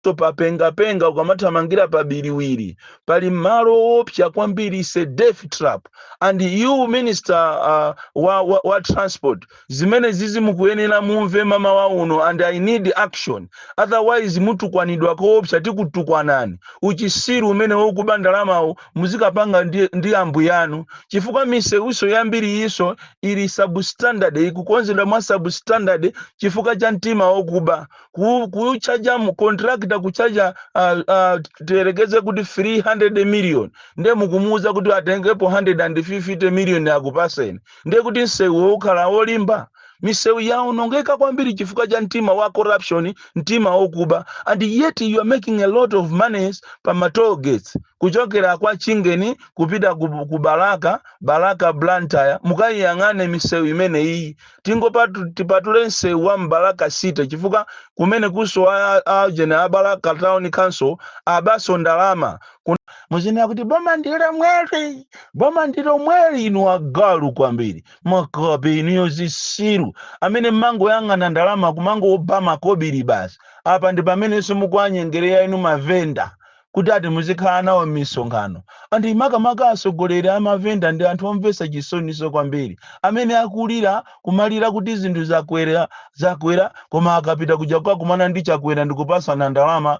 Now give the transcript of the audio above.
to papengapenga ukamathamangira pa biriwiri pali malo owopsa kwambiri is a death trap and you minister uh, wa, wa, wa transport zimene zizi mukuyenera mumve mama wa uno and i need action otherwise mutukwanidwa koopsa tikutukwanani uchisiru umene wokuba ndalamawo muzikapanga ndi, ndi ambuyanu chifukwa misewuso yambiri iso ili substandard ikukonzedwa mwa substandard chifukwa cha mtima wokuba ku- kuchaja mu contractor kuchaja uh, uh, tiyerekeze kuti 300 million nde mukumuuza kuti atengepo 150 million akupaseni nde kuti msewuwo ukhala olimba misewu yaonongeka kwambiri chifukwa cha mtima wa corruption mtima wokuba and yet you are making a lot of monies pa ma toll gates kuchokera kwa chingeni kupita ku, ku balaka balaka blantyre mukayiyang'ane misewu imene iyi tingopatu tipatule msewu wa mbalaka city chifukwa kumene kunso a- a- ajeni a balaka town council abanso ndalama Kun- muzinena kuti boma ndilo mweri boma ndilo mweri inu agalu kwambiri makape inuyo zisiru amene mmangoyang'ana ndalama kumangoba makobili basi apa ndi pamenenso mukuwanyengereya inu mavenda kuti ati muzikhala nawo m'misonkhano. And makamaka asogoleri a mavenda ndi anthu omvesa chisoniso kwambiri amene akulira kumalira kuti zinthu zakwera, zakwera koma akapita kuja kukakumana ndi Chakwera ndikupasana ndalama